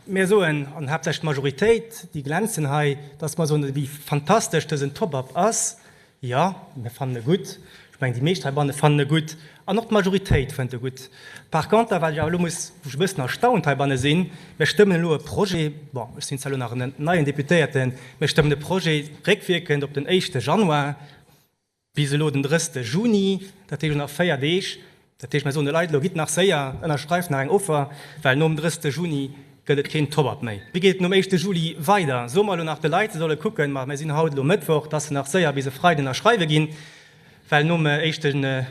Mir soen, an haaptsächlech d'Majoritéit, déi glänzen hei, dass mer soen, wéi fantastesch dësen Top-up ass. Jo, mir fannen e gutt. Ech mengen, déi meescht heibanne fannen e gutt. An och d'Majoritéit fënnt e gutt. Par conter, wat ech awer elo muss, wou ech e bëssen erstaunt heibanne sinn, Mir stëmmen elo e Projet, bon, ech sinn zwar elo nach en neien Deputéierten, mir stëmmen e Projet réckwierkend op den éischte Januar, Bis elo den 30 Juni, dat heescht elo nach 4 Deeg. Dat heescht, mär soen de Leit elo, Gitt nach séier, ënnerschreift nach eng Offer, well nom 30 Juni gëtt et keen Top-Up méi. Wéi geet et nom 1 Juli weider? Soe mer elo nach de Leit, se solle kucken, ma mir sinn haut elo Mëttwoch, dass se nach séier bis e Freiden ënnerschreiwe ginn, well nom 1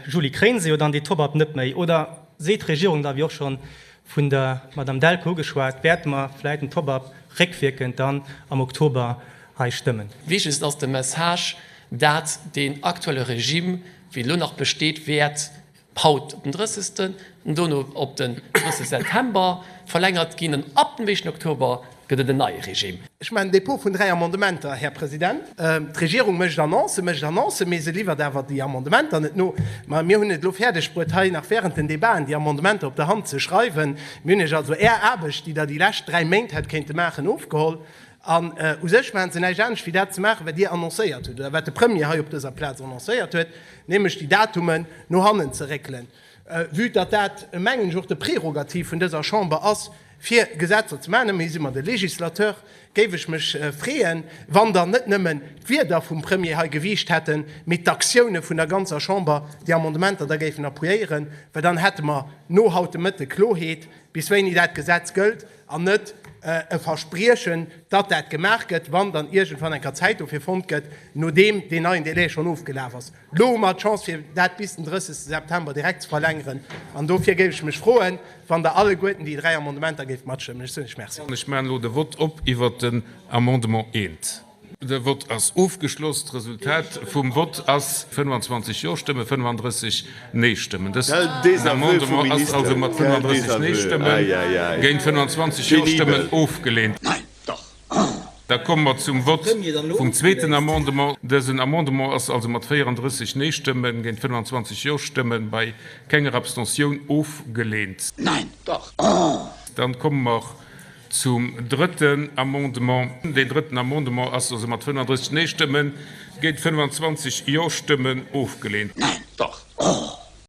Juli kréie se jo dann dee Top-Up net méi? Oder seet d'Regierung da, wéi och schonn vun der Madame Delcourt ugeschwat, wäerte mer vläit den Top-up réckwierkend dann am Oktober hei stëmmen. Wichtegst ass de Message, dat deen aktuelle Regime, wéi en elo nach besteet, wäert haut op den 30. an dono op den 30 September verlängert ginn an ab dem éischten Oktober Gëtt et en neie Regime? Ech maachen Dépôt vun dräi Amendementer, Här President. D'Regierung mécht Annoncen, mécht Annoncen, mee se liwwert awer déi Amendementer net no. Mä mir hunn et elo fäerdeg bruet, hei nach während den Debaten déi Amendementer op der Hand ze schreiwen. Mir hunn Iech also Är Aarbecht, déi Der déi lescht dräi Méint hätt kéinte maachen, ofgeholl. An u sech maache se näischt anescht, wéi dat ze maachen, wat Dir annoncéiert hutt oder wat de Premier hei op dëser Plaz annoncéiert huet, nämlech déi Datumen no hannen ze réckelen. Vue datt dat, mengen ech, och de Prerogativ vun dëser Chamber ass, fir Gesetzer ze maachen, ëmmerhi si mer de Législateur, géif ech mech freeën, wann Der net nëmmen d'Wierder vum Premier hei gewiicht hätten, mee d'Aktioune vun der ganzer Chamber, déi Amendementer da géifen appuyéieren, well dann hätte mer no haut de Mëtte Kloheet, bis wéini dat Gesetz gëllt, an net e Verspriechen, datt dat gemaach gëtt, wann dann iergendwann enker Zäit dofir fonnt gëtt, nodeem deen neien Délai schonn ofgelaf ass. Elo hu mer d'Chance fir dat bis den 30 September direkt ze verlängeren an dofir géif ech mech froen, wann Der alleguerten déi dräi Amendementer géift matstëmmen. Ech soen lech Merci. Ech maachen elo de Vott op iwwert den Amendement 1. De Vott ass ofgeschloss. D'Resultat vum Vott ass 25 Jo-Stëmmen, 35 Nee-Stëmmen. Dësen Amendement ass also mat 35 Nee-Stëmme géint 25 Jo-Stëmmen ofgeleent. Nein, dach! Da komme mer zum Vott vum zweeten Amendement. Dësen Amendement ass also mat 34 Nei-Stëmme géint 25 Jo-Stëmme bei kenger Abstention ofgelehnt. Dann komme mer zum drëtten Amendement. Deen drëtten Amendement ass also mat 35 Nei-Stëmme géint 25 Jo-Stëmme ofgelehnt.